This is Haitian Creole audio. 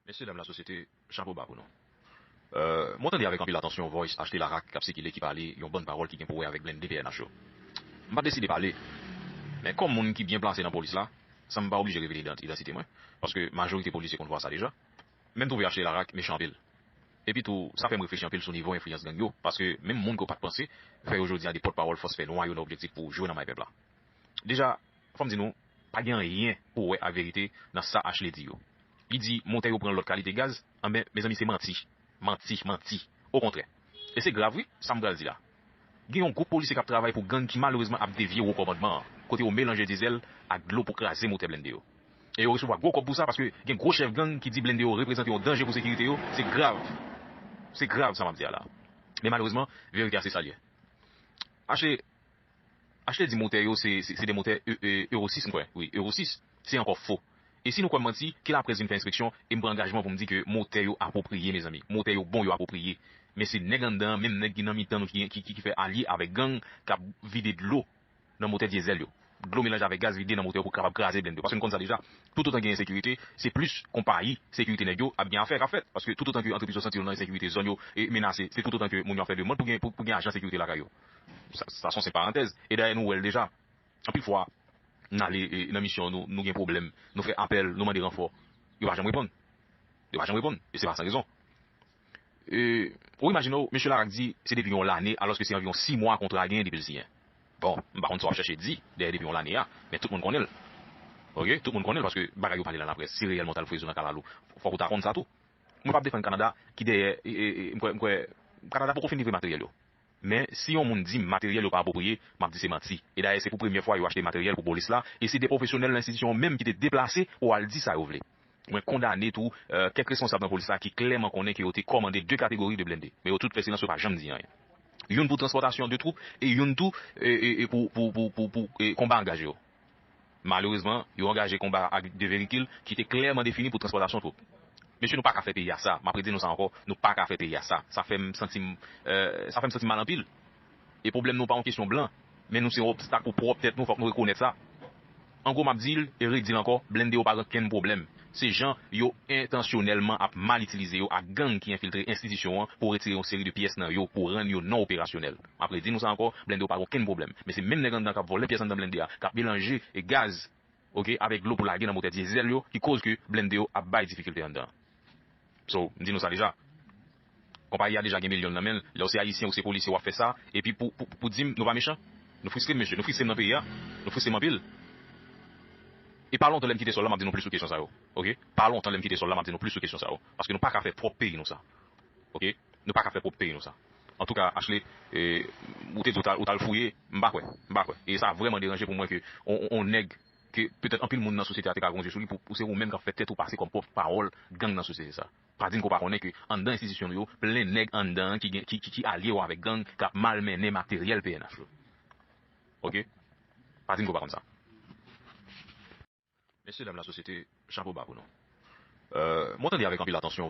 Mesye dam la sosyete chapo ba pou nou. Mwen tande avèk anpil atansyon voice achte la rak kap sikile ki pale yon bann pawòl ki gen pou wè avèk blende pnh yo. M pat deside pale men kòm moun ki byen plase nan polis la san m pa oblije revele idantite mwen paske majorite polisye konn vwa sa deja men m twouve achte la rak mechan anpil. Epi tou sa fè m reflechi anpil sou nivo enfliyans gang yo paske menm moun ke w pat panse fè yo jodi a de pòt pawòl fòs fè nwa yo nan objektif pou jwe nan may pèp la. Deja Fòm di nou, pa gen anyen pou wè a verite nan sa Ashley di yo. Li di motè yo pran lòt kalite gaz, anben mezanmi se manti, manti, manti. Okontrè. E se grav wi, sa m pral di la. Gen yon gwoup polisye k ap travay pou gang ki malerezman ap devye wo kòmandman an, kote yo melanje dizèl ak dlo pou kraze motè blende yo. E yo resevwa gwo kòb pou sa paske gen gwo chèf gang ki di blende yo reprezante yon danje pou sekirite yo, se grav. Se grav sa m ap di a la. Men malerezman, verite a se sa l ye. Ashley. Achte di motè yo se se de motè Euro 6 m kwè wi Euro 6 se ankò fo e si nou kwèm manti ke laprès vin fè enspeksyon e m pran angajman pou m di ke motè yo apwopriye mezanmi motè yo bon yo apwopriye men se nèg anndan an menm nèg ki nan mitan nou ki ki fè alye avèk gang kap vide dlo nan motè dyezèl yo dlo melanje avèk gaz vide nan motè yo pou kapab kraze blennde yo paske nou konn sa deja toutotan gen ensekirite se plis konpayi sekirite nèg yo ap gen afè kap fèt paske toutotan ke antrepriz yo santi yo nan ensekirite zòn yo menase se toutotan ke moun yo ap fè demand pou gen pou gen ajan sekirite lakay yo. Sa son se parantèz. E dayè nou wè l deja. Anpil fwa, n ale nan misyon nou, nou gen pwoblèm, nou fè apèl, nou mande ranfò. Yo pa janm reponn. Yo pa janm reponn. E se pa san rezon. E, ou imajine w, Mesye Laraque di se depi yon lane alòske se anviwon si mwa kontra a genyen depi l siyen. Bon, m pa konn sa w ap chèche di dèyè depi yon lane a, men tout moun konnen l. Ok? Tout moun konnen l paske bagay yo pale nan laprès. Si reyèlman w t al fouye zo nan kalalou, fòk ou ta konn sa tou. Mwen p ap defann Kanada ki dèyè, e, m kwè, m kwè Kanada poko fin livre materyèl yo. Men, si yon moun di m materyèl yo pa apwopriye, m ap di se manti. E dayè, se pou premyè fwa yo achte materyèl pou polis la, e se de pwofesyonèl nan enstitisyon an menm ki te deplase pou al di sa yo vle. Mwen kondane tou kèk responsab nan polis la ki klèman konnen ke yo te kòmande de kategori de blende. Men yo tout fè silans, yo pa janm di anyen. Youn pou transpòtasyon de twoup e youn tou pou konba angaj yo. Malerezman, yo angaje konba a ak de verikil ki te klèman defini pou transpòtasyon twoup. Mesye nou paka fè peyi a sa, map redi nou sa ankò, nou paka fè peyi a sa. Sa fè m santi m, sa fè m santi m mal anpil. E pwoblèm nou pa yon kesyon blan, men nou se yon obstak pou pwòp tèt nou, fòk nou rekonèt sa. An gwo map di l e redi l ankò, blende yo pa gen okenn pwoblèm. Se jan yo entansyonèlman ap mal itilize yo ak gang ki enfiltre enstitisyon an pou retire yon seri de pyès nan yo pou rann yo non operasyonèl. Map redi nou sa ankò blende w pa gen okenn pwoblèm men se menm nèg anndan kap vòlè pyès anndan blende a kap melanje gaz ok avèk dlo pou lage nan motè diesel yo ki koz ke blende yo ap bay difikilte anndan so m di nou sa deja konpayi a deja gen milyon nan menl lèw se ayisyen ou se polisye wap fè sa epi pou pou dim nou pa mechan nou fristrem mesye nou fristrem nan peyi a nou fristrem anpil e pa lontan lèm kite sòl la map di nou plis sou kesyon sa yo ok pa lontan lèm kite sòl la map di nou plis sou kesyon sa yo paske nou paka fè pwòp peyi nou sa ok nou paka fè pwòp peyi nou sa. Antouka Ashley ou te di ou tal fouye m pa kwè m pa kwè e sa vrèman deranje pou mwen ke on nèg ke petèt anpil moun nan sosyete a te ka gen yon zye sou li pou se ou menm kap fè tèt ou pase kòm pwòp pawòl gang nan sosyete sa pa dim ke w pa konnen ke anndan enstitisyon nou yo plen nèg anndan an ki gen ki alye yo avèk gang kap mal mennen materyèl pnh yo ok pa dim ke w pa konn sa. Mesye dam lasosyete chapo ba pou nou mwen tande avèk anpil atansyon.